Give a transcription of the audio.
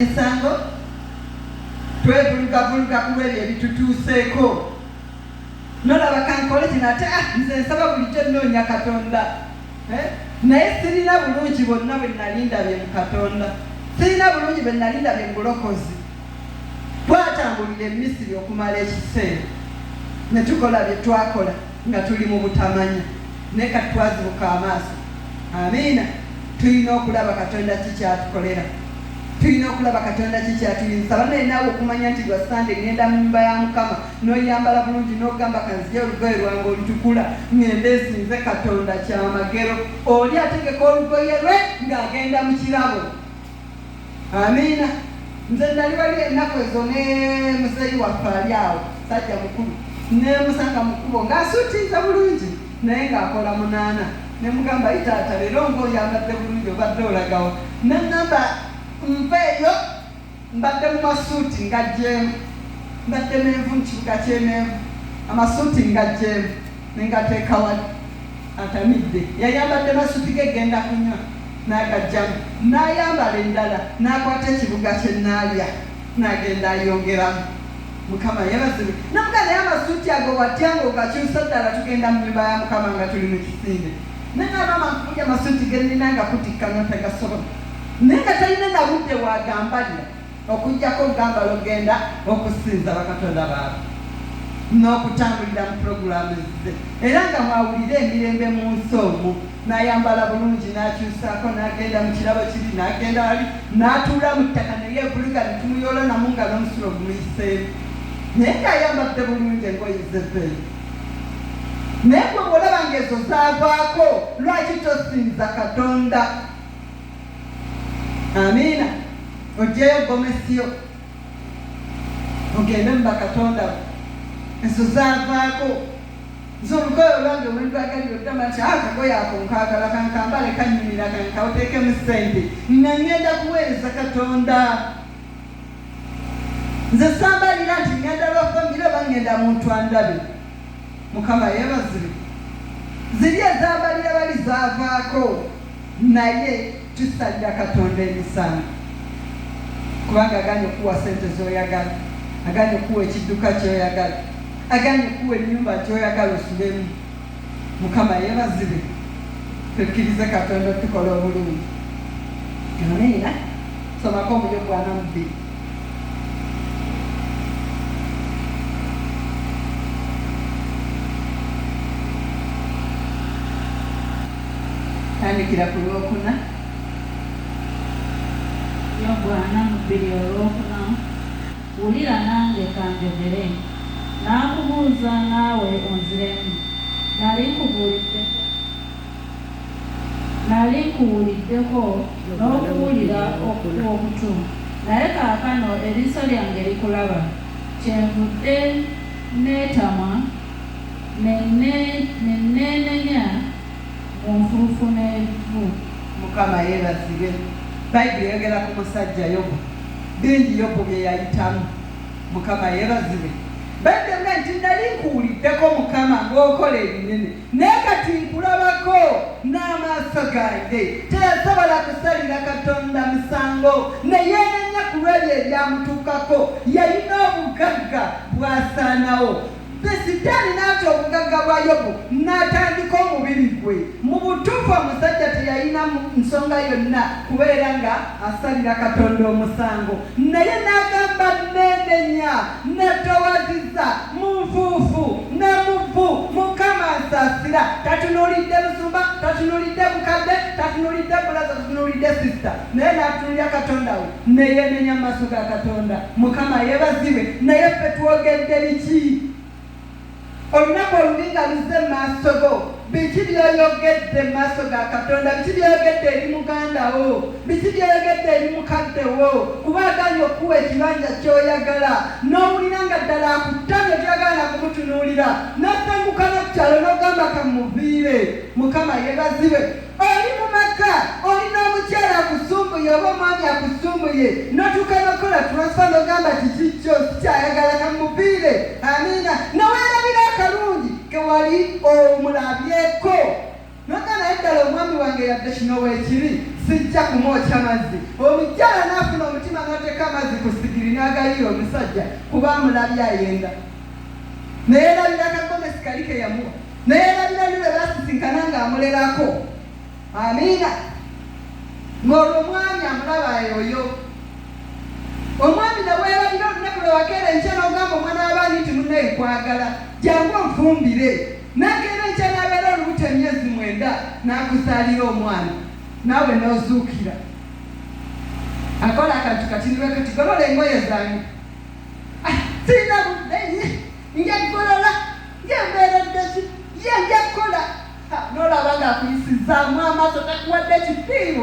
emisango twevulugavuluga ku lwebyo ebitutuuseeko nolaba kankole kino ate ah, nze nsaba bulijjo nnoonya katonda eh? naye sirina bulungi bonna bwe nali ndabye mu katonda sirina bulungi bwe nali ndabye mu bulokozi twatambulira emisiri okumala ekiseera ne tukola bye twakola nga tuli mu butamanya naye kati twazibuka amaaso amiina tulina okulaba katonda kikyatukolera tulina okulaba katonda kikyatuyinza banaye naawe okumanya nti lwa sande ngenda mu nyumba ya mukama noyambala bulungi nogamba kanzija olugoye lwange olutukula ngende esinze katonda kyamagero oli ategeka olugoye lwe ng'agenda mu kirabo Amiina. Nze nali wali ennaku ezo ne muzeeyi waffe ali awo, musajja mukulu, nneemusanga mu kkubo ng'asuutinze bulungi naye ng'akola munaana. Ne mugamba, Ayi taata, leero ng'oyambadde bulungi, obadde olaga wa? N'aŋŋamba nveeyo, mbadde mu masuuti ngaggyeemu. Mbadde menvu mu kibuga ky'e Menvu, amasuuti ngaggyeemu ne ngateeka wali. atamidde yayambadde masuti ge genda kunywa n'agaggyamu n'ayambala endala n'akwata ekibuga kye Naalya n'agenda ayongeramu. Mukama yebazibwe. Namuga naye amasuuti ago watya nga ogakyusa ddala tugenda mu nnyumba ya Mukama nga tuli mu kisinde. Naye nga maama nkubuja amasuuti ge nnina nga kutikka n'otagasobola. Naye nga talina na budde waagambalira. Okuggyako okugambala okugenda okusinza bakatonda baabwe n'okutambulira mu pulogulaamu ze, era nga mw'awulira emirembe mu nsi omwo, n'ayambala bulungi, n'akyusaako, n'agenda mu kirabo kiri, n'agenda wali, n'atuula mu ttaka ne yeevulika ne tumuyoolanamu nga n'omusulo gumuyiseemu, naye ng'ayambadde bulungi engoye ze z'ezo. Naye ggwe bw'olaba ng'ezo zaavaako, lwaki tosinza Katonda? amiina ojjeyo gomesiyo ogende mu bakatonda bo ezo zavaako nze olugoye olwange olwendwagalira oddama nti akagoye ako nkaagala kankambale kanyumira kankawuteekemu ssente nga ngenda kuweereza katonda nze sambalira nti ngenda lwa famire oba ngenda muntu andabe mukama yebazire ziri ezambalira bali zavaako Naye tusalira Katonda emisango kubanga aganye okuwa sente zoyagala, aganye okuwa ekidduka kyoyagala, aganye okuwa enyumba gyoyagala osulemu. Mukama yebazibwe tukkirize Katonda otukola obulungi. Amiina. Somako omuli ogwa Namubiru. tandikira ku lwokuna yobu ana mu bbiri olwokuna wulira nange kanjogere n'akubuuza naawe onziremu nali nkubuulidde Nnali nkuwuliddeko n'okuwulira okw'okutu, naye kaakano eriiso lyange likulaba. Kyenvudde nneetamwa ne nneenenya mu nfuufu n'evvu. Mukama yeebazibwe, Bayibuli eyogera ku musajja Yobu. Bingi Yobu bye yayitamu. Mukama yeebazibwe. Bayibuli egamba nti, Nnali nkuwuliddeko, Mukama, ng'okola ebinene. Naye kati nkulabako n'amaaso gange. Teyasobola kusalira Katonda musango ne yeenenya ku lw'ebyo ebyamutuukako. Yalina obugagga bw'asaanawo. Sitaani n'ata obugagga bwa Yobu n'atandika omubiri gwe. Mu butuufu omusajja teyalina nsonga yonna kubeera ng'asalira Katonda omusango. Naye n'agamba nneenenya, nneetoowaziza mu nfuufu ne mu vvu, Mukama nsaasira. Tatunuulidde musumba, tatunuulidde mukadde, tatunuulidde bulaza, tatunuulidde sisita, naye n'atunuulira Katonda we, ne yeenenya mu maaso ga Katonda. Mukama yeebazibwe! Naye ffe twogedde biki? Olunaku olubi nga luzze mu maaso go, biki by'oyogedde mu maaso ga Katonda? Biki by'oyogedde eri muganda wo? Biki by'oyogedde eri mukadde wo? Kuba agaanyi okukuwa ekibanja ky'oyagala, n'owulira nga ddala akuttamye, toyagala na kumutunuulira, n'osenguka n'oku kyalo n'ogamba ka mmuviire. Mukama yeebazibwe. oli mu maka oli n'omukyala akusumbuye oba omwami akusumbuye notuuka nokola transfa nogamba kikikyo sikyayagala kamupiire amiina nowerabira akalungi kewali omulabyeko noga naye ddala omwami wange yadde kino wekiri sijja kumwokya mazzi omukyala naafuna omutima nateeka amazzi ku sigiri nagayiira omusajja kuba amulabye ayenda naye erabira kagomesi kali keyamuwa naye balinabi be basisinkana ng'amulerako amiina ng'olwo omwami amulaba yoyo omwami nabweyalabira olunaku lwewakeera enkya n'ogamba omwana w'abaani nti munaye kwagala jangu onfumbire nakeera enkya n'abeera olubuto emyezi mwenda n'akuzaalira omwana naawe n'ozuukira akola akantu kati niwe kati golola engoye zange ah, sirina budde nja kugolola ye mbeereddeki ye nja kukola nolaba nga akuyisizaamu amaaso takuwadde kitiibwa